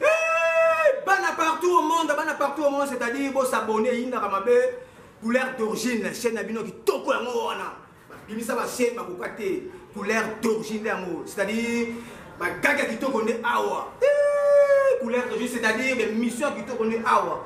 Hey, bana partout au monde, bana partout au monde, c'est-à-dire bo s'abonner yindaka mabe couleur d'origine chaîne na bino kitoko yango wana. Bimisa ba chaîne ba koka te couleur d'origine yango, c'est-à-dire ba gaga kitoko nde awa. Hey, couleur d'origine c'est-à-dire be mission kitoko nde awa.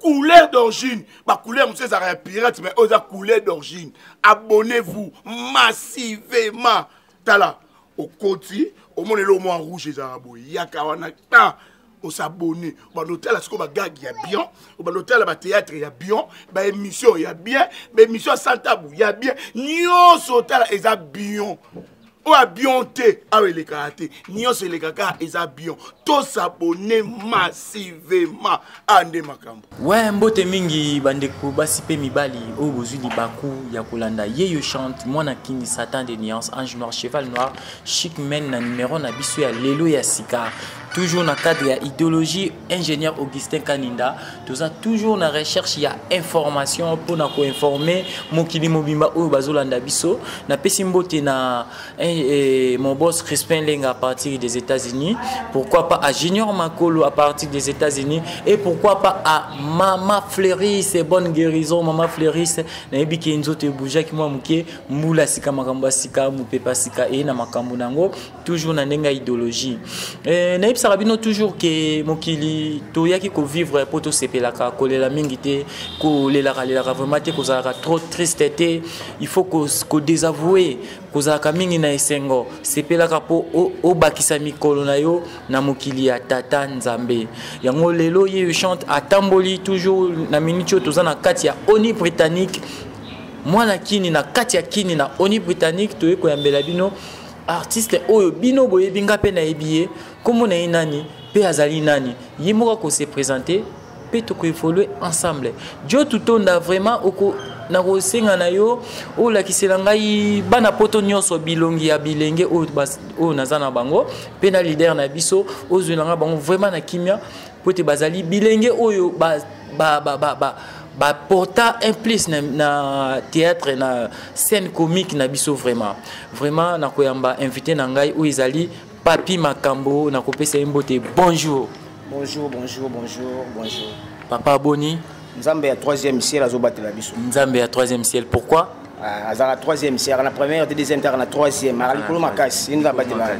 couleur d'origine bacouleur mosusu ezalaka ya pirate mais oyo eza couleur d'origine abonnez vous massivement tala okoti omona eloko mwa rouge ezalaka boye yaka wana ta osabone obanda otala sikoyo bagage ya bien obanda otala bateatre ya bien baémission ya bien baémission ya santabu ya bien nyonso otala eza bien oyo abion te awa elekaka te nyonso elekaka eza abion tosabone massivement a nde makambo we mbote mingi bandeko basi mpe mibali oyo bozwi libaku ya kolanda yeyo chante mwana kini satan de nuance ange noir cheval noir chic men na numero na biso ya lelo ya sika toujours na cadre ya idéologie ingénieur augustin kaninda toza toujours na recherche ya information mpona koinforme mokili mobimba oyo bazolanda biso napesi mbote na eh, eh, mon boss crispin lenga à partir des états-unis pourquoi pas à junior makolo à partir des états-unis et pourquoi pas à mama fleuris bonne guérison mama fleuris nayebi ke nzoto ebougeaki mwa moke mbula sika makambo ya sika mopepa sika eye na makambo na yango toujours na ndenge ya idéologie eh, nayebisaka bino toujours ke mokili toyaki kovivre mpo tosepelaka kolela mingi te kolelaka lelaka vraiment te kozalaka trop triste te il faut kodésavoue kozalaka mingi na esengo sepelaka mpo obakisa mikolo na yo na mokili ya tata nzambe yango lelo ye chante atamboli toujours na miniti oyo toza na kati ya oni britannique mwana kini na kati ya kini na oni britannique toyei koyambela bino artiste oyo bino boyebi nga mpe nayebi ye nkombo na ye nani mpe azali nani ye moko akose présente mpe tokoevolue ensemble jo tutonda vraiment oko nakosenga na yo olakisela ngai bana poto nyonso bilongi ya bilenge oyo naza na bango mpe na lider na biso ozwela ngai bango vraiment na kimia mpo ete bazali bilenge oyo ba, ba, ba, ba, ba ba porta un plus na, na théâtre na scène comique na biso vraiment vraiment na koyamba invité na ngai oyo ezali papi makambo na kopesa ye mbote bonjour bonjour bonjour bonjour bonjour papa boni nzambe ya troisième ciel azobatela biso nzambe ya troisième ciel pourquoi Ah, azalaka troisième siaka na première te deuxième taka na troisième aka likolo makasi eni abatela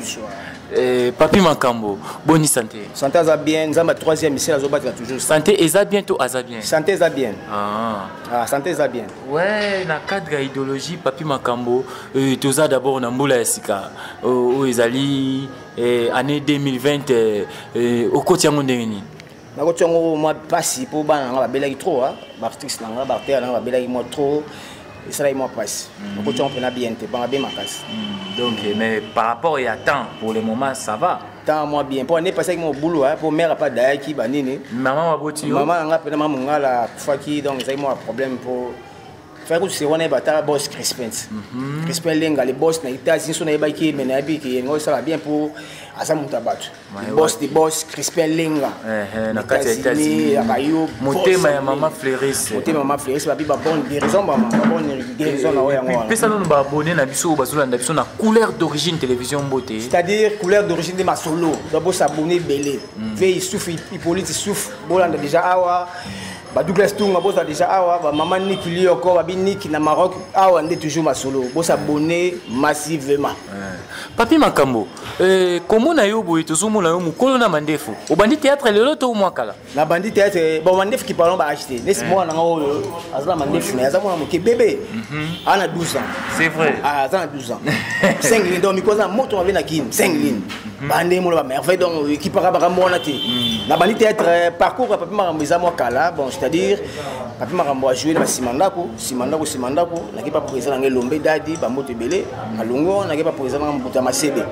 eh, papi makambo boni santé santé aza bien nzambe troisième misele azobatela toujours santé eza bien to aza bien santé eza bien ah. Ah, santé eza bien ouais na cadre ya idéologie papi makambo euh, toza d'abord na mbula ya sika oyo oh, oh, ezali eh, année 2020 okoti yango ndenge nini nakoki yango mwa mpasi mpo bana na ngai babelaki trop ah. baartiste na ngai baartere na ngai babelaki mwa trop esalaki mwa mpasi mm. nakoki yango mpena bien te banga be makasi mm. donc mais par rapport ya temps pour le moment ça va temps mwa bien mpo anepasaki mwa bulu ah, mpo mare apa dayaki banini mama baboti yo mama na ngai mpena mama mongala akufaki donc ezalaki mwa problème mpo fai kutusi wana yeba ata bos crispens crispin lenga le bos na itazi nso nayebaki me nayebi ke yengo esala bien mpo aza moto ya bato boss de boss crispin lenga na kati ya états-unis ya bayo motema ya mama fleuris motema ya mama fleuris babi ba bonne guérison ba bonne guérison na oyo yango wana pesa nanu ba abonné na biso bazolanda biso na couleur d'origine télévision mbote c'est-à-dire couleur d'origine de masolo babo s'abonner belé hmm. ve isufu hippolyte isufu bolanda déjà awa ba douglas tunga boza déjà awa ba mama niki lioko babi niki na maroc awa nde toujours masolo bosa bonne massivement papi makambo Eh, komona yo boye tozomona yo mokolo na mandefu obandi théâtre lelo to mwa kala nabandi théâtre eh, bon mandefu kipalon baachete nesi eh. mwana nanga oyo aza na mandefu naye aza mwana moke bebe mhm. aza na 12 ans c'est vrai ah, aza na 12 ans senglin donc mikoza na moto mabe na kin senglin mhm. bande molo bamerveille donc ekipaka makambo wana te mhm. nabandi théâtre parcours ya papi makambo eza mwa kala bon c'est à dire papi makambo ajoue na basima ndako nsima ndako nsima ndako nake pa président na ngai lombe dadi bamboto ebele alongwe wana nake pa président nanga mbuta masebe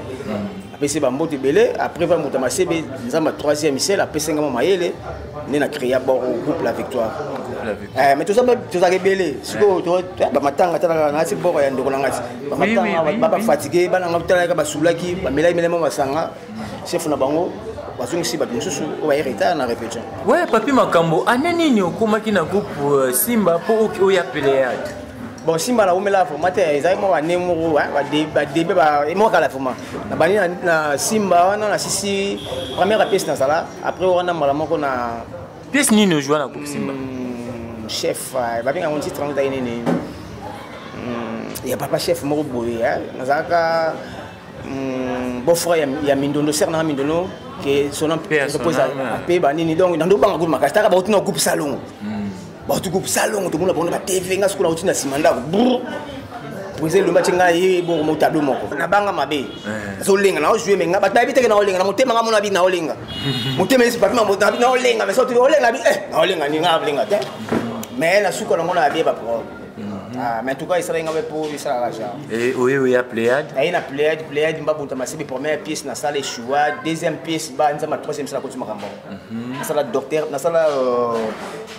apesi bamboto ebele après va mbuta masebe nzambe troisième ciel apesi ngai mwa mayele nde na créa bor groupe la victoire eh, mais tozalaka ebele sikoyo eh, bamatanga talaka nasi bor ya ndeko na ngati bamatanga babafatigue bana ngai talalaka basulaki bamelaki melema masanga chef na bango bazongisi bato mosusu oyo baye retard na repetition we papi makambo ane nini okomaki na groupe euh, simba mpo oya peleade bon simba na umela vraiment te ezali mwa bane moko badebe emokala vraiment na bani na simba wana na sisi première pièce nazala après wana mbala moko na pièce nini ojua na groupe simba hmm, chef euh, babenga yango titre yango ezali nini hmm, ya papa chef moko boye nazalaka mm, bofra ya mindondo ser nanga mindondo ke sona mpoza apeba nini donc nando banga kutu makasi taka bauti na groupe salongo mm. bauti groupe salongo tomona bango na batv nga sikola auti na nsima ndako brr brise elomba ti ngai ye boko mo tableau moko nabanga mabe nazolenga naojoue me ngai bato nayebi teke naolenga na motema ngai mona bi naolenga motema esi papi mamotabi naolenga me soki olenga bi eh naolenga ni ngai alenga te me nasuka nango na yabie baprobe Mhm. Ah, mais en tout cas, il sera ingabé pour il sera raja. Et oui, oui, à Pléiade. Ah, il y a Pléiade, Pléiade, m'a bouta ma sébi première pièce, na salle choua, deuxième pièce, bah, nous avons ma troisième salle côté marambo. Na salle docteur, na salle euh,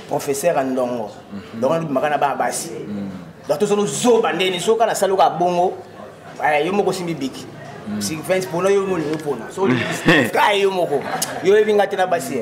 professeur en dongo. Mhm. Donc on m'a ba basi. Mhm. Donc tous nos zo bandé ni soka na salle ka bongo. Bah, yo moko simbi biki. Sylvain, pour nous, yo moko. So, yo moko. Yo ebinga tena basi.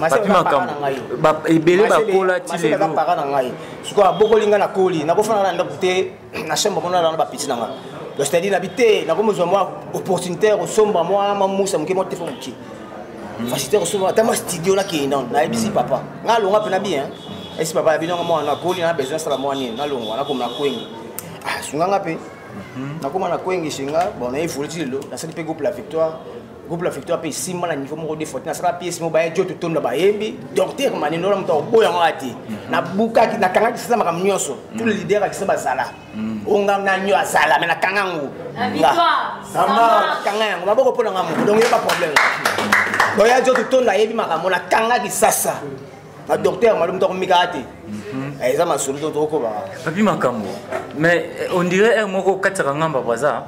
bapi makambo ebele bakola ti lelo para na ngai sikoyo abokoli ngai nakoli nakofana na ndako te na chambre mona na bapiti na ngai donc c'est-à-dire nabi te nakomozwa mwa opportunité ya kosomba mwa mamusa moke mwa tefo moke hmm. facilité ya kosomba ata mwa studio nakei nano nayebisi hmm. papa ngai alonga mpe na bien esi papa yabi nanga mwana nakoli na besoin asala mwa nini nalongwa nakoma na kwengi ah, sunganga mpe hmm. nakoma na kwengi singa bon naye foli ti lelo nasali mpe groupe la victoire groupe la victoire mpe esimba na niveau moko de forte nasala piese moko baya joto tonda bayembi docteur maninola moto akoboya yango ati mhm. nabukaki nakangaki sisa makambo nyonso tout le mhm. leader akisa bazala mhm. onga nanyo azala me nakanga yango kanga yango maboko mpo nanga moko donc yeba problème boya joto tonda ayebi makambo nakangaki sasa na docteur malo moto akomikaka te eh, eza masolo to tokokobaka papi makambo mais eh, on dirait heure moko okatisaka ngamba baza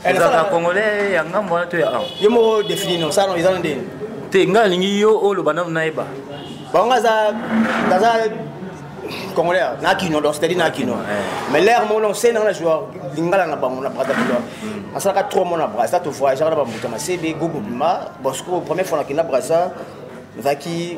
ozalaka congolais ya ngambo wana to ya awa ye moko défini no sano eza na ndeni te ngai alingi yo oloba nano nayeba bango aza aza congolais na kino donc c'est-à-dire na kino mais l'air mon c'est na joie lingala na bango na Brazzaville asalaka trop mon na Brazza to voyager na bambuta masebe gogo bima bosco première fois na kina Brazza nazalaki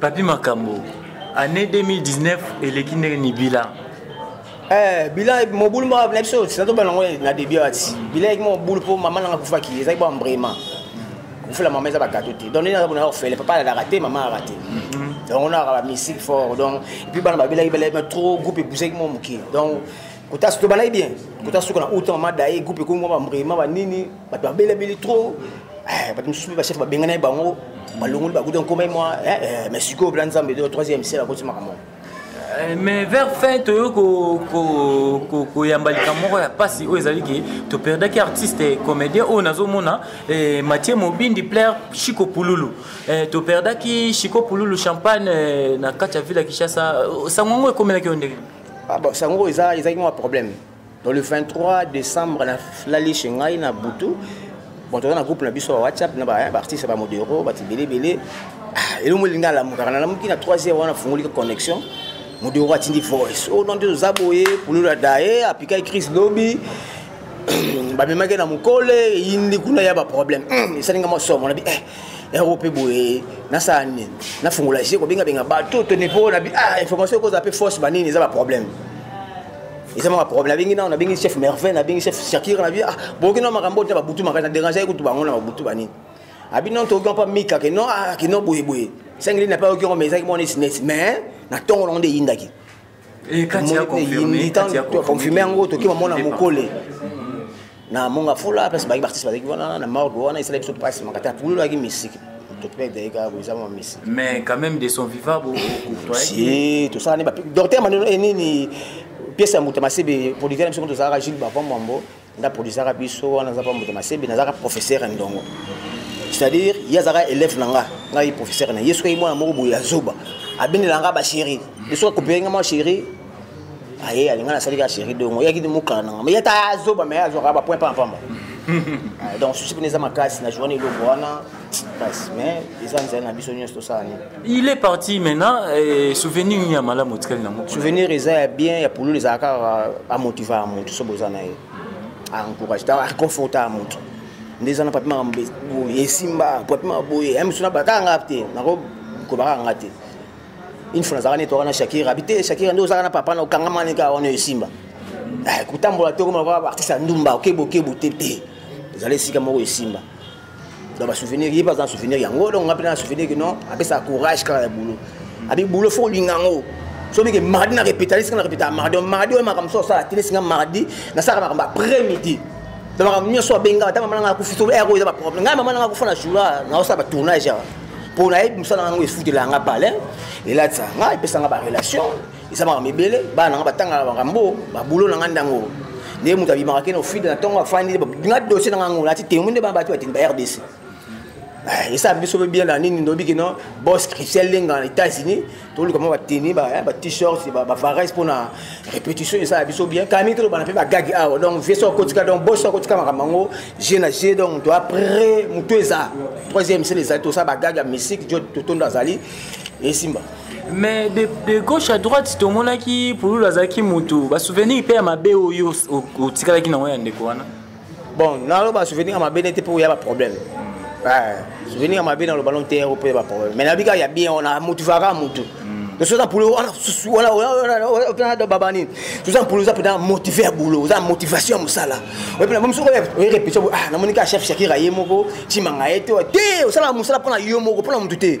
Papi Makambo, année 2019 eleki ndenge ni bilan Eh, bilan mobulu moko na biso sinato bana yango na debut ati bilan yaki mobulu mpo mama nanga akufaki ezalaki ba mbrema kofela mama eza bagato te donc nini aza bonaka kofele papa alalaka te mama alaka te donc onaka bamisike fort donc epuis bana babelaki belema trop groupe epusaki mo moke donc kotasi to balai bien kotasi suka na uta mama daye groupe ekomi mwa bambrema banini bato babelabeli trop eh, bato mosusu mpe bachef babengani bango balongoli bakuta nkomai mwa eh, eh, mais sikoyo bela nzambe to troisième sel akoti makambo Eh, mais vers fin toyo koyamba likambo moko ya mpasi oyo ezali ke toperdaki artiste comédien oyo nazomona eh, matie mobindi plaire chico pululu eh, toperdaki chico pululu champagne na kati ya ville ya kinshasa sango yango ekomelaki yo ndenge ah bon, sango eza ezaki mwa problème donc le 23 décembre nalali chez ngai na butu bon toza na groupe na biso ya whatsapp na baartiste ya bamodero bato ebele ebele ah, elongo elingi alamukaka nalamuki na 3 heure wana afungolika connexion modero atindi voice o oh, nonde oza boye pulula daye apikaki crise lobi bamemaki na mokole eyindi kuna ya baproblème esalinga mwa somo na bi eh yango mpe boye nasala nini nafungola je kobengabenga bato tone mpo na ah, information ekozala mpe force banini eza baproblème eza maka problème nabengi nao nabengi chef merveille nabengi chef shakir nabi ah, boyoki nao makambo oyo te babutu makasi na dérange ye kutu bango na babutu banini abi non toyoki mpa mika ke non ah, ke non boyeboye sengeli na mpe ayoki yango mais ezalaki mwana esinesi mais na ntongo nango nde eyindaki confirme yango tokima mona mokole na monga fula place baki baartiste bazalaki wana na morgue wana esala biso mpasi makata apulolaki misiki mais quand même de son vivant si tosala ne docteur maneno enini pièce ya moto masebe producteur na biso moto ozalaka jules bavamwambo nda produisaka biso wana aza mpa moto masebi nazalaka professeur ya ndongo c'est-à-dire ye azalaka élève na nga ngai professeur na ye soki mwana moko boye ya zoba abendela nga bachéri biso akopeye nga mwa chéri aye alinga nasali ka chéri dongo eyaki ti mokala na nga ma ye ata azoba mai azwaka bapoint mpamba mpamba donc susi mpena eza makasi na journe eloko wana pasi mais eza nzela na biso nyonso tosala nini il est parti maintenant eh, souvenir nini ya malamu otikali nango souvenir eza ya bien ya pululu ezala kaka amotiva ya motu so boza na ye encourage aconforta ya motu nde eza na papi makambo boye esimba papi makambo boye ya misu nabataka nga te nakokobaka nga te une fois nazalaka neti waka na shakira abi te shakira nde ozalaka na papa na okangama neka wana esimba eh, kotambola te okoma artiste ya ndumba okebokebo te te ezala esika moko esimba donc basouvenir ye mpe aza na souvenir yango donc nga mpe na souvenir kino apesaka courage kaka ya boulot abi boulot fo olinga yango soki ke mardi na repetali sika na repetaka mardi donc mardi oyo makambo so osala tele singa mardi nasalaka makambo après midi donc makambo nyonso abenga ata mama nanga akufi soki ero eza baproblème ngai mama nanga akufa na joura naosala batournage awa mpo nayebi mosala nango efutela yanga palin elatisa nga epesa nga barelation eza makambo ebele bana na nga batangaka makambo babulo na nga ndango nde moto abimaka kene ofide na ntongo afandi nga dossier na nga ngo nati temo nde bato batini ba rdc eh, esa biso mpe bien na nini ndobi kino bos christian lenga na états-unis toluka mwa bateni eh, bat-shirts bavares mpo na répétition esala biso bien kami tolobana mpe bagagi awa ah, donc vie so akotika donc bos so akotika makambo yango je na je donc to après motu eza troisième sele ezali tosala bagagi ya mystique jo totondo azali esimba mais de, de gauche à droite tomonaki pululu azalaki motu basouvenir mpe ya mabe oyo otikalaki nango ya ndeko wana bon naloba souvenir ya mabe nete mpe oya baproblème souvenir ya mabe naloba no te mpe baproblème mais nabi kaka ya bien wana motivaka motu tosoza mpulo wana susu wana mpena baba nini toza mpulo oza mpena motive ya boulot oza motivation ya mosala oye mpena momi soki oyerepetion namoni kaka chef shakira ye moko cimanga ye te te osalaka mosala mpona yo moko mpona motu te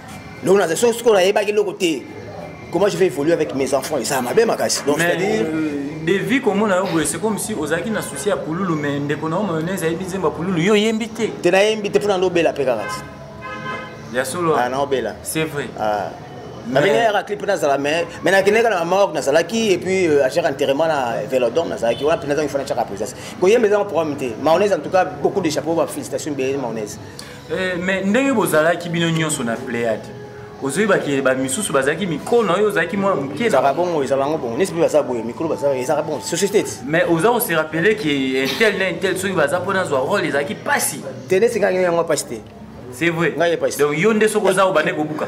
donc naza soki soki nayebaki eloko te comment je vais évoluer avec mes enfants eza mabe makasi donc c'est-à-dire devi komona yo boye c'est comme si ozalaki na souci ya pululu mais ndeko na yo mayonnaise ayebi nzemba pululu yo oyembi te te nayembi te mpona ndobela mpe kaka ti ya solo ah, naobela c'est vrai ah. nabengayaka clip nazala mais mais nakendeka na mamawak nazalaki et puis euh, achaka enterrement na velodom nazalaki wana mpena zangi fana chaka présence koyemba ezanga programme te maonaise en tout cas beaucoup de chapeau ba félicitation bele maonaise Eh, mais ndenge bozalaki bino nyonso na pléade ozoyebaki bamisusu bazalaki mikolo na oyo ozalaki mwa mokeezalaka bongo ezala yango bongo nesi mpe baza boye mikolo baza ezalaka bongo société ti mais oza kose rappele ke intel na intel soki baza mpo nazwa role ezalaki mpasi te nesi ngai yango mpasi te c'est vrai donc yo nde soki oza obande kobuka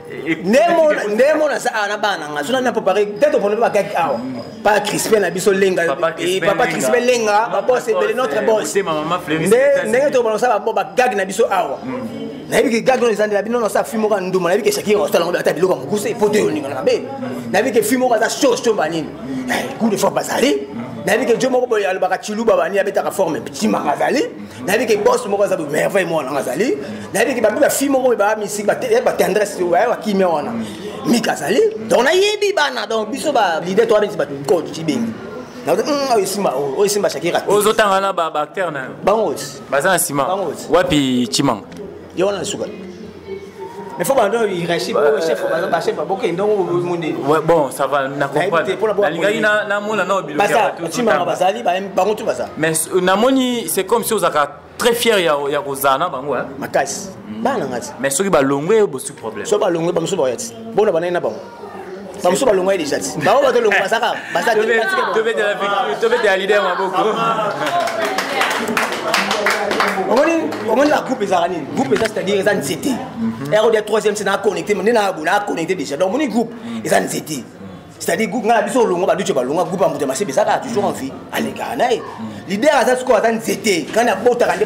nde mona aza awa na bana nga zona na popare te topona mpe bakaki awa pa crispin na biso lenga papa crispin lenga babos ebele notre bos ndenge tokobana kosala bagage na biso awa nayebi ke gage oyo ezandela bino nosa fi moko ya nduma nayebi ke shakira osala yango ata biloko ya mokuse po to eyoningana mabe nayebi ke fi moko aza chose to banini coup de forme bazali nayebi ke jo moko boye alobaka chiluba banini abetaka forme timaka azali nayebi ke bos moko aza merveille moko nanga azali nayebi ke babi bafille moko baa misik batendresse eh, oyo bakimia wana mika azali donc nayebi bana donc biso balide to abeti bato bikolo tocibengi hmm, oyo esimba oyo oh, esimba shakira ozotanga na baacteur na yo bango baza na nsima wapi cimanga ye wana suka mais faut bando irachip oyo chef bachef baboke ndongo monde bon ça va na comprendrenalingaki namona nao bilotimaka bazali bango tu baza mais euh, namoni c'est comme si ozalaka très fier ya kozala na bango makasi bana ngati mais soki balongwe bosuki problème so balongwe bamosusu baoya ti bona banai na bango bamosusu balongwai deja ti bango bato longo bazaka bazatobetela lider maboko omoni omoni la groupe ezalaka nini groupe eza c'est-à-dire eza nzete erode ya troisième se naa connecté nde naa bo naa connecté déjà donc omoni groupe eza nzete c'est-à-dire groupe ngai na biso olongwa baduce balongwa groupe ya moto ya masebe ezaka toujours en vie alekaka na ye lider aza sikoyo aza nzete ngai nabotaka nde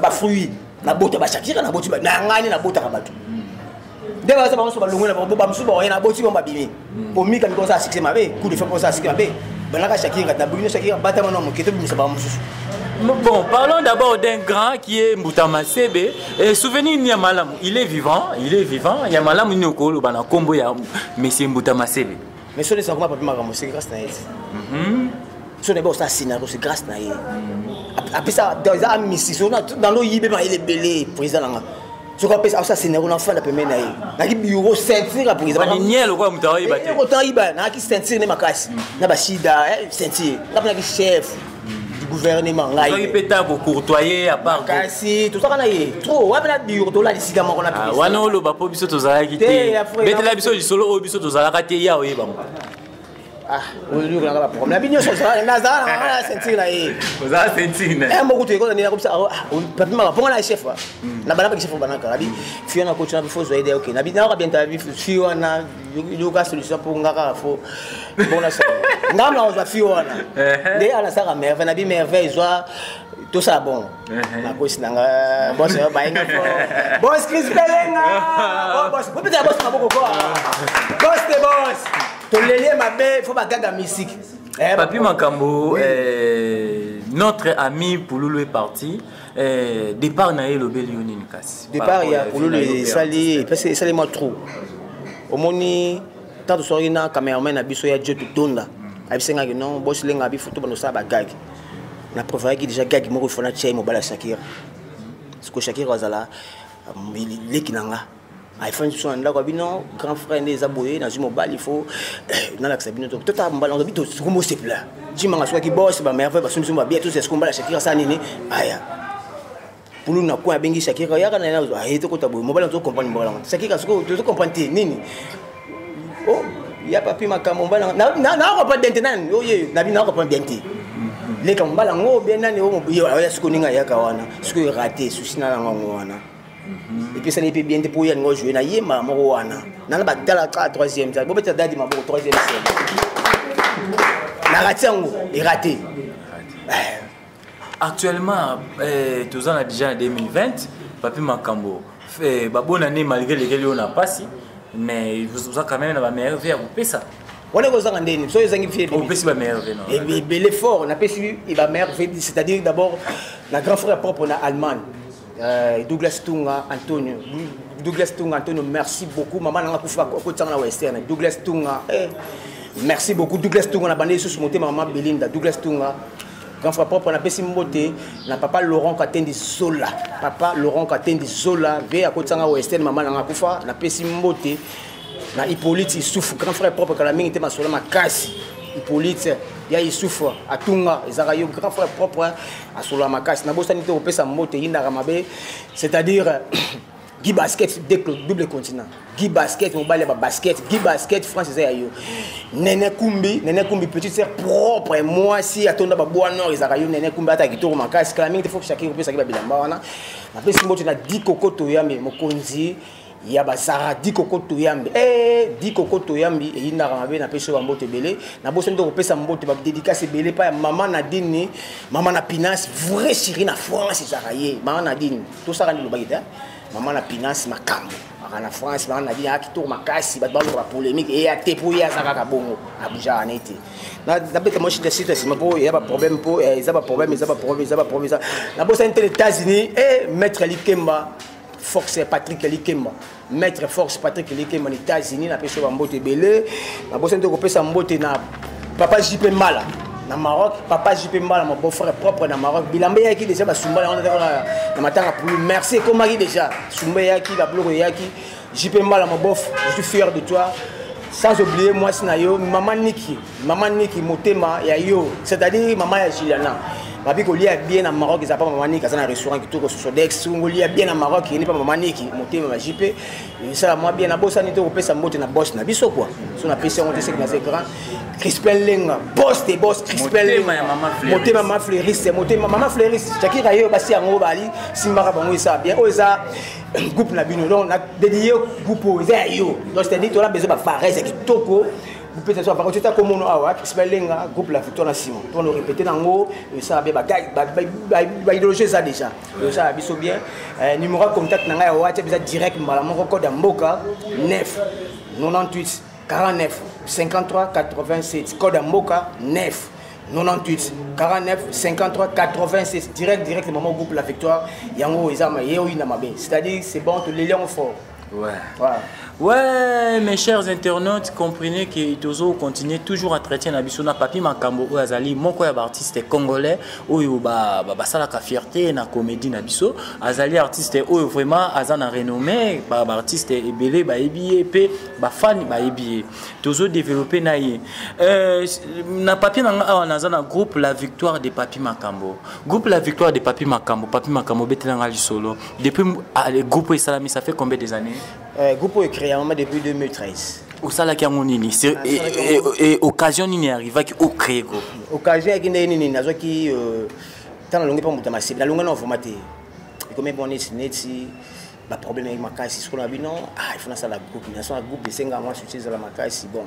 bafruit nabota bashakira naboti na ngai nde nabotaka bato nde baza bango so balongwe na bango bamosusu baoye na boti bango babimi komika miko oza succès mabe coup de fait mpo oza succès mabe banaka shakiri kati na bokino shakiri batama na moke tobimisa bango mosusu Bon, parlons d'abord d'un grand qui est Mboutama Sebe. Et souvenir Niamalam, il est vivant, il est vivant. Niamalam, il est au Kolo, il est au Kombo, il est au Messie Mboutama Sebe. mais soni eza koma papi makambo c'est grâce na ye mhm. soni ebe osala scénario c'est grâce na ye mhm. apesa eza amisi dans loyibe mayele ebele président nanga soki apesa asala scénario nafanda pembeni na ye naki bureau ceinture ya présidentotanga yiba nayaki ceinture nde makasi mhm. na basida eh, ceinture napona ki chef du gouvernement ngai pe ta ko courtoyer à part kasi tout ça kana ye trop wapi na biro to la lisika moko na ah, biso wana oloba po biso tozalaki te betela biso lisolo oyo biso tozalaka te ya oyeba ngo ah oyo kaka ba problème bino so ça na za na na sentir na ye za sentir na eh mboku tuye ko na ko bisa ah papi mama ponga na chef ah. hmm. na bana ba chef banaka abi fiona coach na bifo zo aide okay na bi na ka bien ta bi fiona yoka solution mpo nga kaka fo bona sa nga mna kozwa fi wana nde ana saka merveille na bi merveille zwa tosala bongo nakosi na nga bos bayenga fo bos cris pelenga bos bopetela bos maboko ko bos te bos tolelie mabe fo bagaga misiki papi makambo notre ami pululu est parti Eh, départ na ye elobeli yo nini kasi départ ya kululu esali epesi esali mwa trou omoni ntango tosokaki na cameraman na biso ya job tonda mm. abisengaki non bosilenga abi foto banosala bagage na prévoyaki déjà gage moko ifona tia ye mobala shakira siko shakira azala um, leki na nga ayefani lisusu na ndako ya bino grand frère nde eza boye nazwi mobali fo eh, nalakisa bino totala mbala obi tosuku mosepela cimanga asukaki bos bamerveille basumbisi babia tosi asuku mbala shakira asala nini aya pulu na coin abengi shakira yaka na yena aye tokota boye mobali nazo comprendre mbala yango shakira soki tozo comprendre te nini oh, ya papi makambo mbala nakopa bien te nani oye na bino nakopa bien te leka mbala yango bien nani oyo ya sikoninga yaka wana soki erate susi na yango wana Mhm. epesana ye mpe bien te mpo ye alingo joue na ye mbala moko wana nana batala kaka troisième sal bobeta dadi maboko troisième sel narati yango erate eh. actuellement eh, toza na déjà na 2020 papi makambo eh, babona nde malgré lekeli oyo na mpasi mais oza quand même na bamerve ya kopesa wana ekozanga ndeni so ezangi fiopesi bamerve ebele fort napesi bamerve c'est-à-dire d'abord na grand frère propre na allemagne Euh, Douglas Tunga Antonio Douglas Tunga Antonio merci beaucoup maman nanga kufa kotisanga na western Douglas Tunga eh. merci beaucoup Douglas Tunga na bande lisusu motema mama Belinda Douglas Tunga grand frère propre napesi mbote na papa Laurent Katendi Zola papa Laurent Katendi Zola ve akotisanga western maman nanga kufa napesi mbote na Hippolyte Issouf grand frère propre kala mingi te masola makasi Hippolyte ya Issouf atunga ezaka yo grand frère propre asolola makasi nabosani te kopesa mbote eyindaka mabe c'est-à-dire gi basket double continent gi basket mobali ya babasket gi basket france eza ya yo nene kumbi nene kumbi petite sœur propre mwasi atonda baboa nord ezalaka yo nene kumbi ata kitoko makasi kala mingi te fo shakiri kopesaki babilamba wana napesi mbote na di kokoto yambe mokonzi ya bazara dikoko toyambi e dikoko toyambi eyindaka mabe na peso bambote ebele na boso nde kopesa mbote badedikasi ebele epai ya mama nadine mama na pinas vrai siri na france ezalaka ye mama nadine tosaka nde lobaki te mama na pinas makambo aka na france mama nadine aka kitoko makasi bato balokola polémique eya te mpo ye aza kaka bongo abujaka na ye te nabeta mwa shida sita nsima mpo eya baproblème mpo eh, eza baproblème eza baproblème eza baproblème eza nabosani te na états-unis e eh, maître likemba force ya patrick likemba maître force patrick likemba na états-unis napesi yo bambote ebele nabosani te kopesa mbote na papa jp mbala na maroc papa jp mbala mon beau-frère propre na maroc bilamba eyaki déjà basumba yango na matanga pulu merci ekomaki déjà sumba eyaki babiloko eyaki jp mbala mon bof je suis fier de toi sans oublier mwasi na yo mama niki Maman Niki motema ya yo, c'est-à-dire maman ya Juliana. babi kolia bien na maroc eza pa mama niki aza na restaurant kitoko sosodex ngolia bien na maroc yeni pa mama niki motema ma jipe esala mwa bien nabosani te kopesa mbote na bos na biso kua so napesi yango te seki naza grand crispin lenga bos te bos crispin lenga motema ma fleuriste motema mama fleuriste cakira yo basi yango bali simbaka bango esala bien oyo eza groupe na bino donc na dedie groupe oyo eza ya yo donc c'est-à-dire tona besoin bafarese kitoko bopesa so avance otya komono awa akisi balenga groupe la victoire na nsima to na répété nango esala bien baidéologie eza déjà esala biso bien eh, numéro ya contact na ngai ya whatsapp biza direct mbala moko code ya mboka 9 98 49 53 87 code ya mboka 9 98 49 53 86 direct direct maman groupe la victoire yango eza ma ye oyina mabe c'est-à-dire c'est bon toleli yango fort Ouais. Ouais. ouais, mes chers internautes, comprenez que Tozo continue toujours à traiter na biso na papi makambo oyo azali moko ya artiste congolais oyo ba ba basala ka fierté na comédie na biso azali artiste oyo vraiment aza na renommée ba ba artiste ebele ba ebiye pe ba fan ba ebiye Tozo développer na ye euh, na papi na nga awa naza na groupe la victoire de papi makambo groupe la victoire de papi makambo papi makambo betela nga lisolo Depuis ah, le groupe Salami, ça fait combien des années euh, Groupe est créé en depuis 2013. Au salaki yango nini et occasion nini arrivaki au créer groupe occasion yaki ndenge nini nazwaki ntango nalongi mpe moto ya masibi nalongi na ovoma te ekomi mpo neti neti baproblème yaki makasi sikoyo na bino ah il faut nasala groupe naso na groupe esengaka mwa succès ezala makasi bon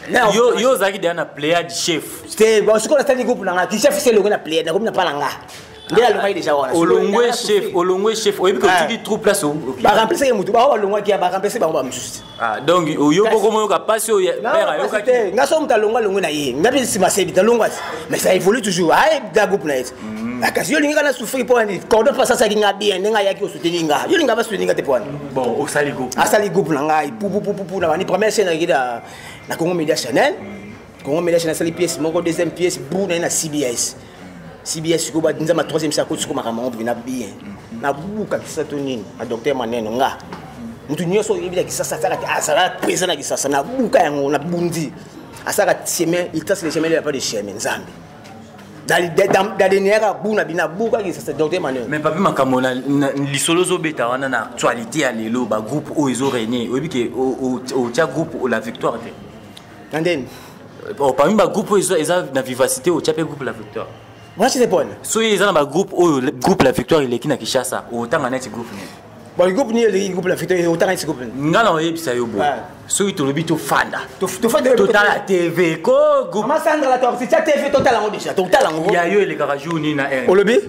yo yo ozalaki deya na pléade chef te sikoyo nasali groupe na nga ti chef se elongo na pléade nakomi na pala nga nde alongaki deja wana olongwe chef olongwe chef oyebi ke otiki ah. troupe place baremplisaki motu bao balongwaki ya baremplise bango bamosusu ah, donc oyo boko moyoka mpasi oyo père ayokaki nga so moto alongwa alongwe na ye nga mpe nsima sebi nalongwa ti mais ça évolue toujours aye da groupe na ye ti mm. ah, kasi yo olingaka na souffrir mpo wani cordon mpe asasaki nga bien ndenge ayaki osuteni nga yo olingaka basuteni nga te mpo wani bon osali groupe asali groupe na ngai pupupupupu na bani première chaine akida na congo media chanel congo media chanel asali pièce moko deuxième pièce bu na ye na cbs cbs sikoyo banzama troisième sa koti sikoyo makambo yango bina bien nabuka kisa to nini na docteur maneno nga moto nyonso oyebi na kisasa asalaka azalaka présent na kisasa nabuka yango nabundi asalaka chemin il trace le chemin de la pas de chemin nzambe dadeneyaka bu na bino abukaki sasa docteur emmanuel mais papi makambo na lisolo ozobeta wana na actualité ya lelo bagroupe oyo ezo renie oyebi ke otya groupe la victoire te na ndeni oh, parmi bagroupe oyo eza na vivacité otya mpe groupe la victoire mwasi te pone soki eza na bagroupe oyo groupe la victoire eleki na kinshasa otanga neti groupe nini bon groupe nini eleki groupe na fito otangaki groupe nga na oyebisa yo boye soki tolobi tofanda totala tv ko groupesandra totia tv totala yango deja totala yango ya yo elekaka jour nini na r olobi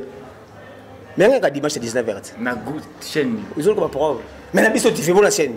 me yangaka dimanche 19 heures na chaîne ozolokoba probe me na biso tv bona chaîne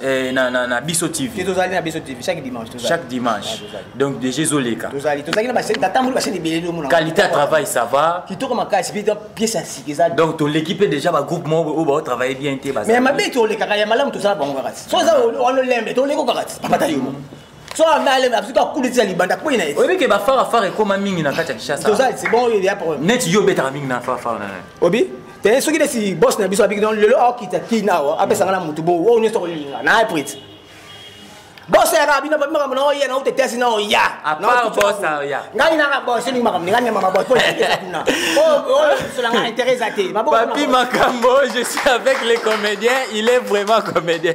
Eh, na, na, na biso tv tozali na biso tv chaque dimanche tozali. chaque dimanche ah, donc déjà ezoleka tozali tozali na basene tatamboli basene ebele nde omona qualité ya travail ça va kitoko makasi mpe pièce ya sika eza donc toleki mpe déjà bagroupe moko oyo baotravaille bien te mais mabe tolekaka ya malamu tozala bango kaka ti so eza ololembe toleko kaka ti papata yo moko soki ambe aleme akoki akulisa libanda akpoi na ye oyebi ke bafarafara ekoma mingi na kati ya kinshasaanet yo obetaka mingi na farafara na obi te soki nesi bos na biso abiki don lelo aokita kina awa apesanga na motu bongo oyo nyonso okolinga na aprit bos yaka bino babi makambo na oya na ote tesi na oya ngai naka bos elingi makambo ngai nyamama bos mponauna oyo bisola ngai intérêt eza te papi makambo je suis avec les comédiens il est vraiment comédien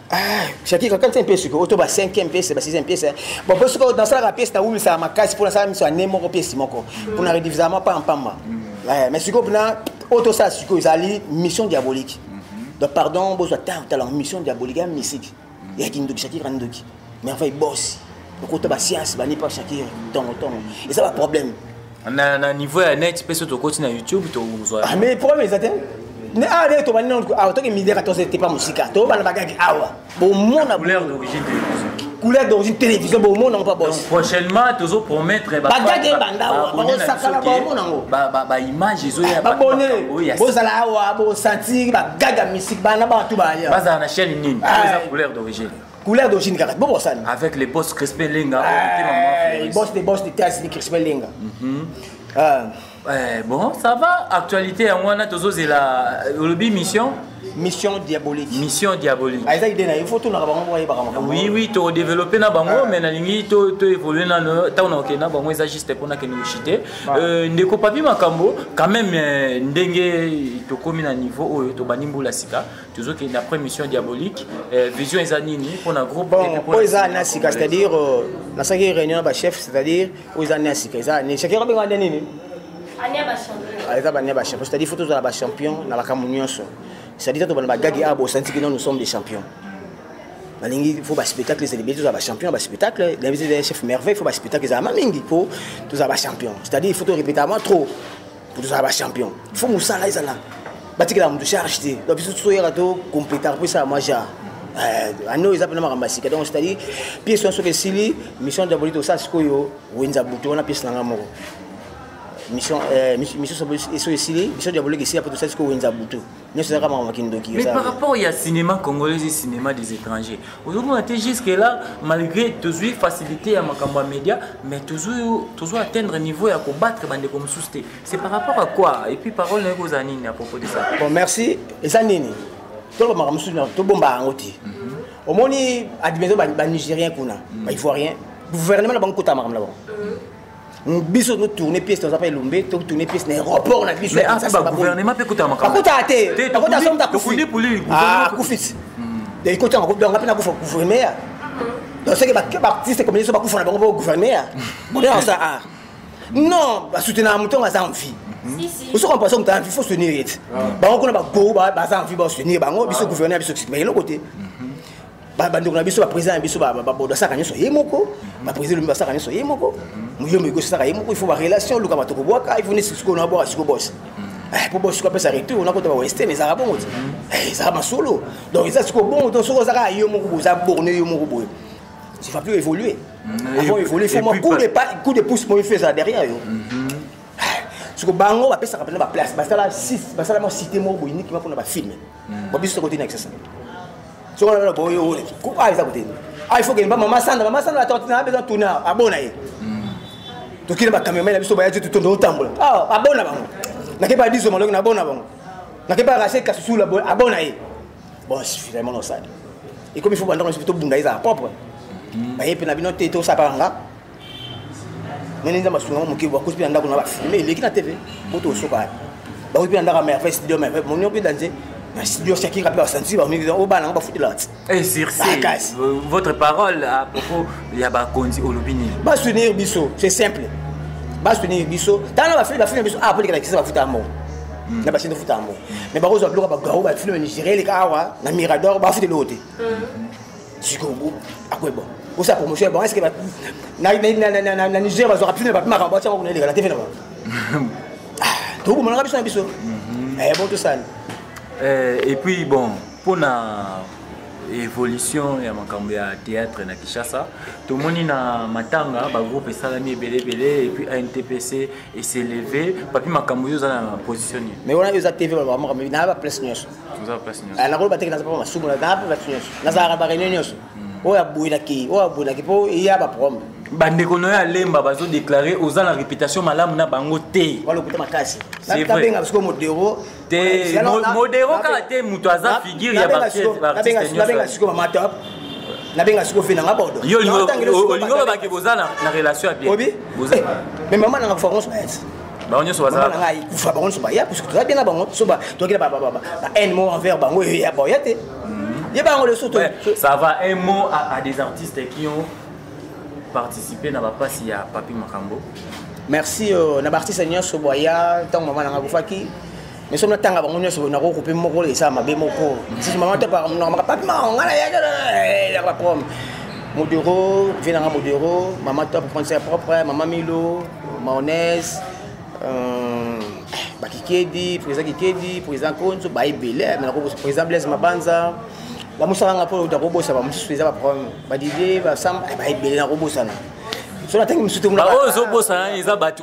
Ah, jaki kakanisa un peu ce que auto ba 5e pièce ba 6e pièce bon parce que dans ça la pièce ta wumi ça ma casse pour ça miso ané moko pièce moko pour na rediviser ma pas en pamba ouais mais ce que na auto ça ce que ezali mission diabolique donc pardon bozo ta ta la mission diabolique ya musique ya kindoki jaki kandoki mais enfin boss okota ba science ba ni pas jaki tongo tongo et ça va problème na, na niveau ya net mpe so tokoti na youtube tozwa ah, mais problème eza te ne awa ndenge tobandi nanu awa toki midi 14 ete pa mosika tobana bagaki awa bomona couleur d'origine télévision bomona ngo pa bos prochainement tozo promettre bagaki ebanda awa bakosakana bomona ngo baimage ezoya babone bozala awa bosantir bagaki ya misik bana bato baya bazala na chaîne nini ah, eza couleur d'origine couleur d'origine kaka bo bosani avec le boss Crispin Lenga eh, le boss de boss de Taz ni Crispin Lenga mhm. ah. eh, bon ça va actualité yango wana tozozela euh, olobi mission mission diabolique mission diabolique ah, eza idée na yo faut tolaka bango moko ayebaka makambo oui oui todéveloppe na bango ah. mais nalingi toévolue nano ntango nakokende na bango eza juste mpo nakende kochite ah. euh, ndeko papi makambo quand même euh, ndenge tokómi na niveau oyo tobandi mbula sika tozokende na après mission diabolique euh, vision eza nini mpona groupe bon oyo eza ane ya sika c'est-à-dire euh, nasalaki réunion na bachef c'est-à-dire oyo eza ane ya sika eza ane chakira obenga ane nini ah, eza bane ya bachampion c'est-à-dire fo tozala bachampion na makambo nyonso c'est-à-dire tobana bagagi awa bosanti kino nous sommes des champions nalingi fo baspectacle ezala ebele tozala bachampion ya baspectacle nabiso chef merveille fo baspectacle ezalama mingi mpo tozala bachampion c'est-à-dire il faut torépéta moi trop mpo tozala bachampion fo mosala ezala batikela moto charge te donc biso toyaka to complétar mpo esala mwa genre ane oyo eza mpena makambo ya sika donc c'est-à-dire pièce wana soki esili mission diabolique tosala sikoyo wenza butu wana pièce na ngai moko mission soki esili mission diabolique esila mpo tosala sikoyo wenza butu nyonso ezaka makambo kindoki mais par rapport ya cinéma congolais et cinéma des étrangers ozomona te jusque là malgré tozwi facilité ya makambo ya média mais tozwi atteindre niveau ya kobattre bandeko mosusu te c'est par rapport à quoi et puis parole naye kozala nini à propos de ça bon merci eza nini tolobaka mosusu tobomba yango te mhm. omoni admeso banigérien kuna mhm. baivoirien gouvernement na bango kotala makambo na bango biso no tourner pièce toza pa elombe to tourner pièce na aéroport na biso ya sasa ba gouvernement pe kuta makamba kuta te kuta somta kufi ah kufi de ikoti yango donc ngapi na kufa gouvernement donc c'est que ba ba artiste comme ça ba kufa na bango ba gouvernement bon là ça ah non ba soutenir mutonga aza en vie oso koma paso moto anvi fo soutenir ye ti bango kuna bago baza anvi ba soutenir bango biso gouverner biso mais eloko te bandeko na biso baprésident na biso babodo asaka nyonso ye moko baprésident lomi basaka nyonso ye moko moyombo ekosi asaka ye moko il faut barelation oluka bato kobwaka il faut nesi sikoyo nabwaka siko bos mpo eh, bos siko apesa retour nakota bawestern ezalaka bongo ti eh, ezalaka masolo donc eza sikoyo bongo to soki ozaka yo moko boza borne yo moko boye tu vas plus évoluer mm, avant évoluer il faut moi coup de pas coup de pouce moi il fait ça derrière yo mm-hmm. eh, siko bango bapesaka mpena baplace basala basala mwa cité moko boye nikima mpona bafilme Ba biso toko tina kisasa. Soko na boye ole. Ko pa eza kote. Ah il faut que mba mama sanda mama sanda toko tina besoin tuna abona ye. Tokile ba cameraman na biso ba yaji tutondo otambola. Ah abona bango. Nakeba biso maloki na bona bango. Nakeba rache kasusula abona ye. Bon finalement on sali. Et comme il faut banda on se plutôt bunda eza propre. Baye pe na bino te to sapanga. nene nzambe asunga ngo moke bakosi mpe na ndako na bafilme eleki na tv boto osoka yapi bakoki mpe na ndako merveille studio merveille monio mpe danze na studio shakinga mpe basansi bamiki o bana yango bafutelaka ti eh, sircakasi euh, votre parole à propos ya bakonzi olobi nini basunir biso c'est simple basunir biso tala bafilme bafilme biso awa ah, mpo elekana kisa bafuta ya mbongo hmm. na basini futa yango mais bakozwa biloko bagao bafilme nigéria eleka awa na mirador bafuta eloko te hmm. sikoyo akoyeba osa promotion ya bango eske na niger bazwaka mpina bapimaka bati yango kuna elekala te mpe na bango tokomonaka biso na biso bon tosala et puis bon mpona évolution ya makambo ya théâtre na kinshasa tomoni na matanga bagroupe esalami ebele ebele epuis antpc eseleve papi makambo yo oza na position nini mais wana eza tv baloba makambo na ya baplace nyonso nakoloba teke naza mpe masumu naza mpe batu nyonso nazalaka na bareunion nyonso hmm. oyo abwelaki oyo abwelaki mpo eya baproblème bandeko na yo ya lemba bazodeklare oza na réputation malamu na bango te walokuta makasi nabenga siko modero te modero kaka te moto aza figure ya baartiste siko mamatop nabenga siko fe nanga bodo yo olingi olobaki boza na relation ya bien mais mama nanga fakonso bayati bango nyonso bazalaka ngai kufa bango nyonso baya parce que toza bien na bango so ba toki na ba ba ba ba haine mot envers bango ya ba ya te mhm. ye bango le soto ça va un mot à, à des artistes qui ont participé na ba passe ya Papi Makambo merci euh, na ba artistes nyonso boya tant maman na ngakufaki mais soki natanga bango nyonso boye nakoki kope moko esala mabe moko sisi mama te nakamaka papi mao ngai nayaka baprom modero vie nanga modero mama top français propre mama milo maonese euh, bakikedi président kikedi président konzo baebele me nakoki président blaise mabanza bamosaka nga mpo nakobosa bamosusu eza baproblème badidie basamba eh, baebele nakobosana so natangi mosusu te oyo ozobosana eza bato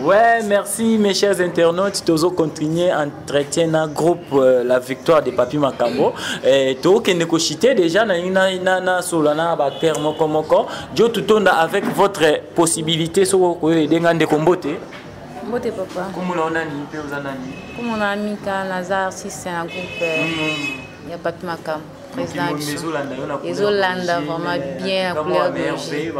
Ouais, merci mes chers internautes. Tozo continuer entretien na groupe euh, La Victoire de Papi Makambo. Et to kende ko chiter déjà na na na na solana ba terre moko moko. Jo tutonda avec votre possibilité so ko edenga ndeko mbote. Mbote papa. Comment on a ni pe ozana ni. Comment on a mis naza artiste na groupe. Euh, mm. Ya Papi Makambo. président na biso ezolanda vraiment bien na couleur biologie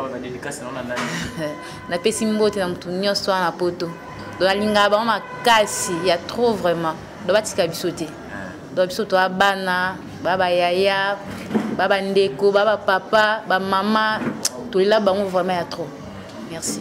napesi mbote na motu nyonso wana na poto donc nalingaka bango makasi ya trop vraiment donc batika biso te ah. donc biso toa bana baa bayaya baa bandeko baa bapapa bamama tolela bango vraiment ya trop merci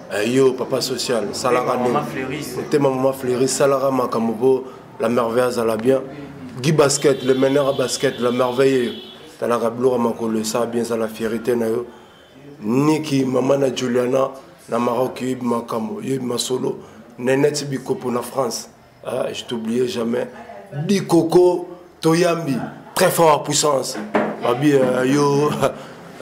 Eh, yo papa social salaka nini otema mama fleuri salaka makambo mpo la merveille azala bien gi basket le meneur a basket la merveille eyo talaka biloko ya makolo esala bien ezala fierité na yo niki mama na juliana na maroc yoyebi makambo yoyebi masolo neneti bikopo na france ah, je t'oublier jamais dikoko toyambi très fort puissance babi euh, yo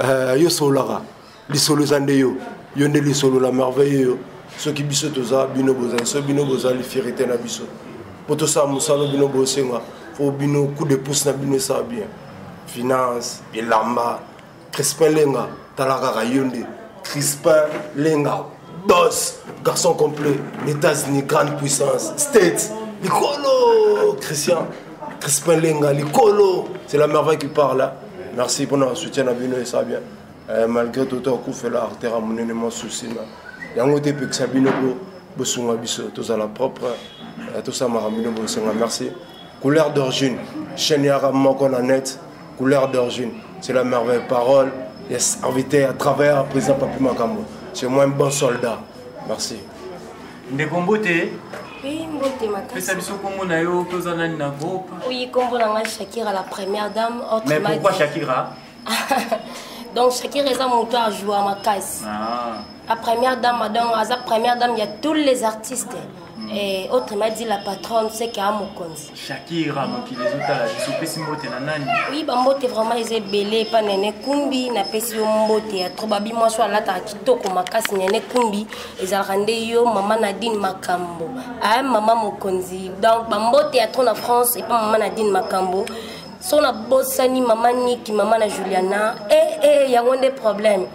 euh, yo sololaka lisolo eza nde yo yo nde lisolo la merveille yo soki biso toza bino bozali soki bino bozali fierité na biso mpo tosala mosala bino bosenga mpo bino coup de pouce na bino esala bien finance elamba crispin lenga tala kaka yo nde crispin lenga boss garçon complet états-unis grande puissance states likolo christian crispin lenga likolo c'est la merveille qui parle hein? merci pour notre soutien na bino esa bien euh, malgré toto akufela artère ya monene mwa souci na yango te epekisa bino bosunga biso tozala propre euh, tosamaka bino bosenga merci couleur d'origine chaîne yaka moko na net couleur d'origine c'est la merveille parole ya serviteur ya travailleur ya président papi makambo c'est moi un bon soldat merci ndeko mbote pesa biso nkombo na yo mpe oza nani na groupe oyi nkombo na ngai shakira la première dame mais pourquoi shakira donc shakira eza moto ajoua makasi ah. la première dame madame aza première dame ya tous les artistes mm. Et autre m'a dit la patronne c'est qu'à mon compte. Shakira mokili ezotala biso pesi mbote na nani? Oui ba mbote vraiment eza ebele epa nene kumbi na pesi yo mbote ya trop babi mwasi oyo alataka kitoko makasi nene kumbi ezalaka nde yo mama nadine makambo aye ah, mama mokonzi donc bambote ya trop na france epa mama nadine makambo so nabosani mama niki mama na juliana e eh, e eh, yango nde problème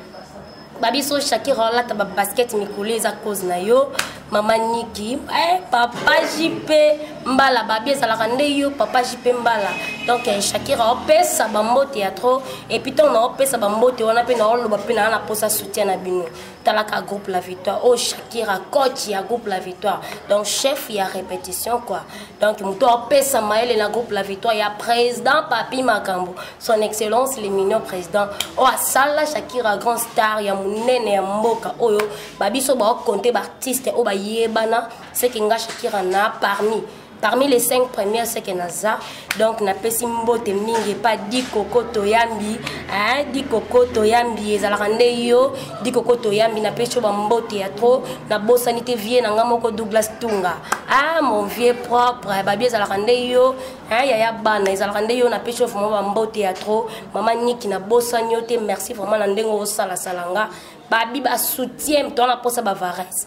babiso shakira olata babasket mikolo eza cause na yo mama niki eh, papa jipe mbala babi ezalaka nde yo papa jipe mbala donc eh, shakira opesa bambote ya trop epuis ntango naopesa bambote wana mpe naoloba mpe naa naposa soutien na bino talaka groupe la victoire oyo oh, shakira coach ya groupe la victoire donc chef ya répétition quoi donc moto apesa mayele na groupe la victoire ya président papi makambo son excellence le mignon président oyo oh, asala shakira grand star ya monene ya mboka oyo oh, babiso baokonte baartiste oyo bayebana seke nga shakira na parmi parmi les cinq premières ce que naza donc napesi mbote mingi epa dikoko toyambi eh, dikoko toyambi ezalaka nde yo dikoko toyambi napesi yo bambote ya trop nabosani te vie na ngai moko douglas tunga ah mon vieux propre babi ezalaka nde yo eh, yaya bana ezalaka nde yo napesi yo vraiment bambote ya trop mama niki nabosani yo te merci vraiment na ndenge osalasala nga babi basoutien to wana mposa bavarese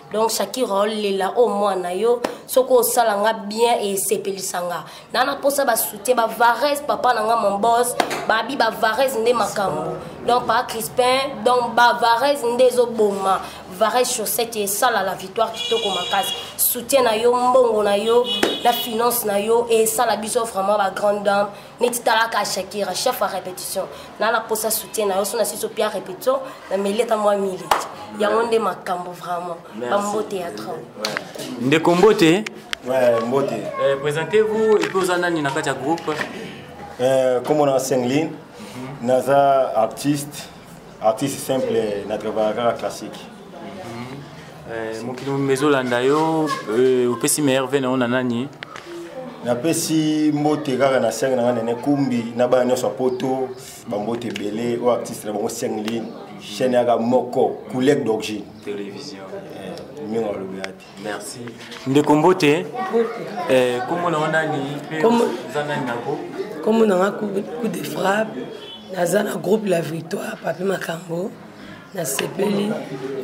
donc shakira olela oyo mwana yo soki osala nga bien esepelisa nga na na mposa basoutien bavarese papa na nga mombos babi bavarese nde makambo donc pa crispin donc bavarese nde ezoboma varese chaussette esala la victoire kitoko makasi soutien na yo mbongo na yo na finance na yo esala biso vraiment bagrande dame neti talaka shakira chef ya répétition na na posa soutien na yo so na sisi opia répétition na meleta mwa miliki yango nde makambo vraiment bambote ya trop ndeko mbote mbote eh, présentez vous epe oza nani na kati ya groupe eh, kombo na senglin mhm. naza artiste artiste simple na travaillaka kaka classique eh, mokili mobimba ezolanda yo eh, opesi meilleur ve na yo na nani napesi mbote kaka na senge na ngai nene kumbi na bana nyonso ya poto bambote ebele oyo artiste na bango sengline chaîne yaka moko coulec d'origine eh, mingi alobi ya te merci ndeko mbote eh, kombo na yo nani mpe oza nani nako kombo na nga coup de frappe naza na groupe la victoire papi makambo nasepeli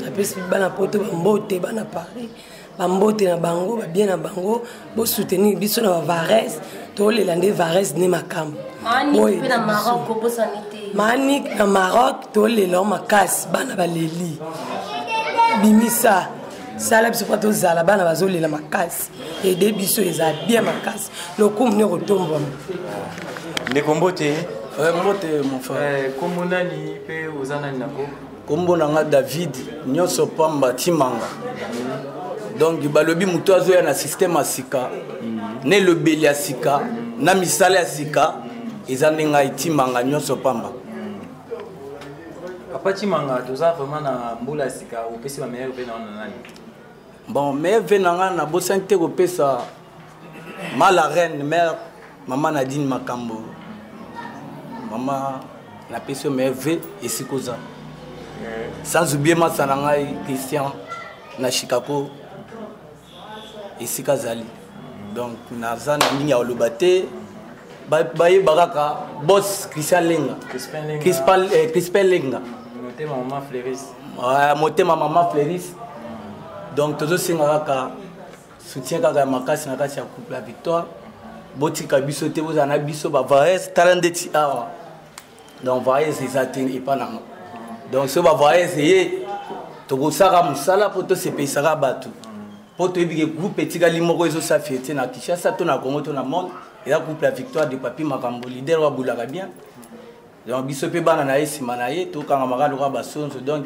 napesi bana poto bambote bana paris bambote na bango babie na bango Bo soutenir biso na Vares, to le lande Vares ne makam. Manik pe na Maroc ko bosani te. Manik na Maroc to le lo makas bana baleli. Bimisa sala biso mpo tozala bana bazolela makasi ede biso eza bien makasi lokumu nde kotombwama ndeko mbote mbote mofa kombo nani mpe oza nani nango kombo na nga david nyonso pamba timanga donc balobi moto azoya na systeme ya sika na elobeli ya sika na misala ya sika eza nde ngai timanga nyonso pamba papa timanga toza vraiment na mbula ya sika opesi bameilleur ve na wana nani bon meilleur ve na ngai nabosani te kopesa ma la reine mère mama nadine makambo mama napesi yo me ve esika oza sans oublie masa na ngai christian na chicago esika azali donc naza na ndenge ya koloba te bayeba kaka bos christian lenga crispin eh, lenga motema mama fleuris donc tozosenga kaka soutien kaka ya makasi na kati ya couple ya victoire botika biso te bozala na biso bavares tala ndeti awa donc vares eza te epa nango donc soki bavares eye tokosaka mosala mpo tosepeyisaka bato mpo toyebi ke groupe etikali moko ezosa fiete na kinshasa to na congo to na monde eza couple ya victoire de papi makambo lider wabulaka bien donc biso mpe bana na ye nsima na ye tokangamaka lokola basonzo donc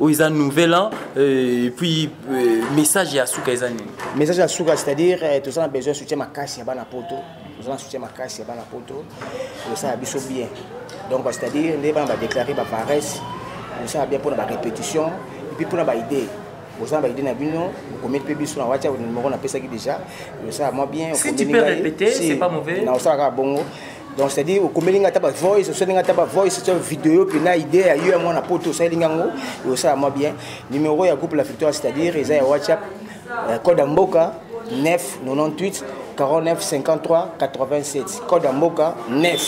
oyo eza nouvel an euh, et puis euh, message ya suka eza nini message ya suka c'est-à-dire euh, toza na besoin soutien makasi ya bana poto toza na soutien makasi ya bana poto kosala biso bien donc c'est-à-dire nde bana badéclare baparesse kosala bien mpona barépétition epuis mpona baidée boza na baide na bino bokomeli mpe biso na whatsapp numero napesaki déjà osala mwa bien si tu peux répéter c'est pas mauvais na osalaka bongo si donc c'est à dire okomeli ngai ata bavoice osali ngai ata bavoice tya video mpena idée ya yo ya mwana poto osaleli ngai yango osala mwa bien numero ya groupe la victoire c'est à dire eza ya whatsapp euh, code ya mboka 9 98 49 53 87 code ya mboka 9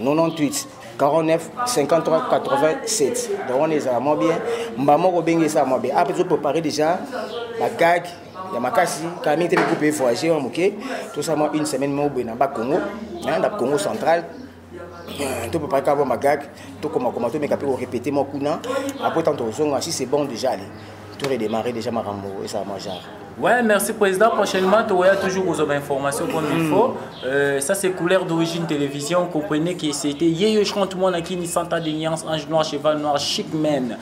98 49 53 87 donc wana ezala mwa bien mbamoko obengi esala mwa bien ape ezoprépare déjà bagage ya makasi kala mingi te mikupe evoyage wana moke tosala mwa une semaine moko boye na ba congo na congo central euh, topepare kaka bwa magag tokomakoma tomeka mpe korepete mwa kuna apres ntango tokozonga si c'est bon déjà ale toredémarre déjà makambo esala mwa genre Ouais, merci Président. Prochainement, tu auras toujours vos informations comme il hmm. faut. Euh, ça, c'est couleur d'origine télévision. Comprenez que c'était Yeyo Chante, moi, qui ni Santa de Niance, Ange Noir, Cheval Noir, Chic Man.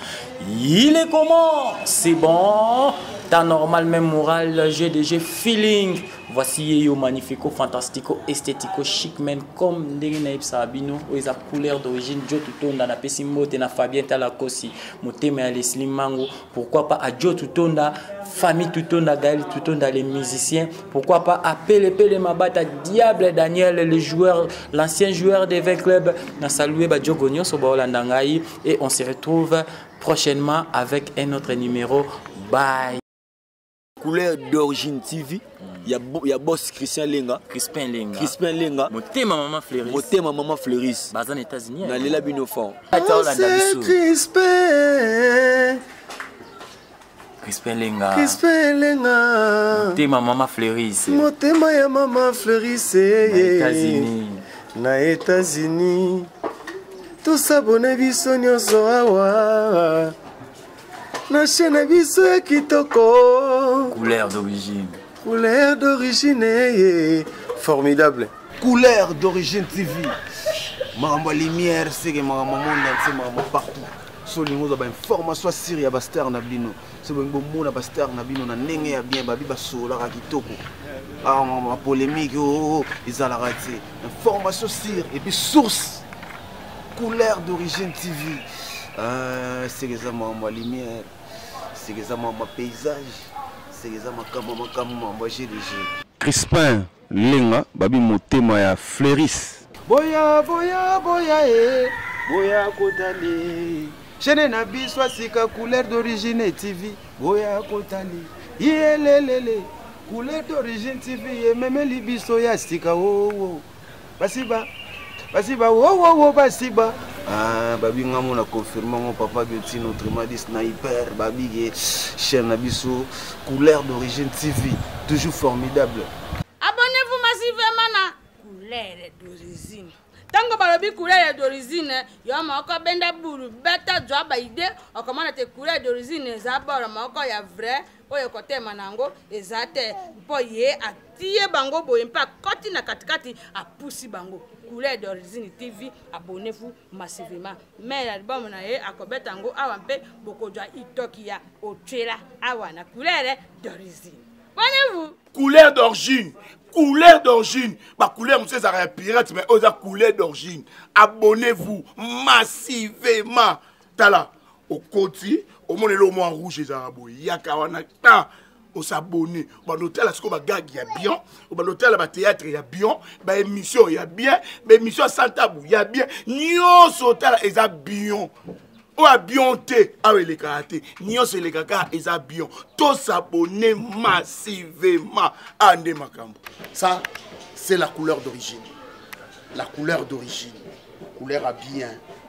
Il est comment C'est bon T'as normal, même moral, j'ai déjà feeling. Voici Yeyo Magnifico, Fantastico, Esthético, Chic Man, comme ndenge na yebisa abino, oyo eza couleur d'origine, Joe Tutonda, na pesi mbote na Fabien Talakosi, motema ya Leslie Mango, pourquoi pas à Joe Tutonda, famille Tutonda, Gaël Tutonda, les musiciens, pourquoi pas à Pele Pele Mabata, Diable Daniel, le joueur, l'ancien joueur des 20 clubs, na salué ba Joe Gonyo, Sobaola Ndangai, et on se retrouve prochainement avec un autre numéro bye couleur d'origine tv ya, ya boss christian lenga crispin lenga crispin lenga motema mama fleuris motema mama fleuris baza na états-unis hein. nalela bino fort crispin Crispin Lenga. Crispin Lenga. Motema mama Fleuris. Motema ya mama Fleuris. Na États-Unis. Na États-Unis. tosabone biso nyonso awa na chaine biso ya kitoko couleur d'origine Couleur d'origine ye formidable. Couleur d'origine TV. Makambo ya lumière seke makambo monde entier makambo partout. So olingi ozwa bainformation ya siri ya bastar na bino so bolingi bomona bastar na bino na ndenge ya bien babi basololaka kitoko bapolémike ah, oo oh, oh, ezalaka te information sire epuis source couleur d'origine tv ah, seke eza makambo ya lumière seke eza mwa ma paysage seke eza makambo makambo ma mwa jeu de jeu crispin lenga babi motema ya fleuris boya boya boya e boya kotali chaine na biso asika couleur d'origine tv boya kotali yelelele couleur d'origine tv ememeli biso ya sika oo oh, oh. basiba basiba wowowo basiba ah, babi nga mona confirme ngo papa geti notre madi sniper babige chaîne na biso couleur d'origine tv toujours formidable abonnez-vous massivement na couleur d'origine ntango balobi couleur d'origine yo moko benda bulu beta zwa baide okomona te couleur d'origine eza boro moko ya vrai oyo ekotema na yango eza te mpo ye atie bango boye mpe akoti na katikati apusi bango couleur d'origine tv abonnez-vous massivement mai ya libamu na ye akobeta yango awa mpe bokozwa itoki ya otyela awa na couleur d'origine abonnez-vous couleur d'origine couleur d'origine bacouleur mosusu ezalaka ya pirate mai oyo eza couleur d'origine abonnez-vous massivement tala okoti omona eloko mwa rouge ezalaka boye yaka wana ta osabone obanda otala sikoyo bagage ya bien obanda otala bateatre ya bien baémission ya bien baémission ya santabu ya bien nyonso otala eza bien oyo abion te awa elekaka te nyonso elekaka eza bion tosabone massivement a nde makambo ça c'est la couleur d'origine la couleur d'origine couleur ya bien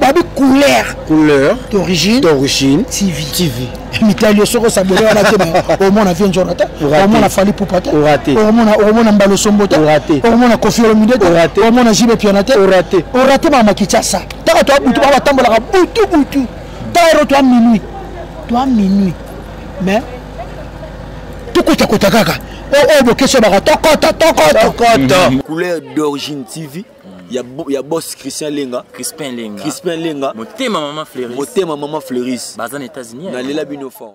babi couleur couleur d'origine d'origine tv tv mitali yo soki osabole wana te omona vie njona te omona fali pupa te omona mbalo sombo te omona kofi olomide te omona jibe piana te orate mama kichasa taka toa butu babatambolaka butu butu tayero toa minuit toa minuit mais tokotakota kaka oyo bokesi obaka tokota tokota couleur d'origine tv ya, ya boss Christian Lenga Crispin Lenga Crispin Lenga motema maman Fleuris motema maman Fleuris baza na États-Unis na lela bino fort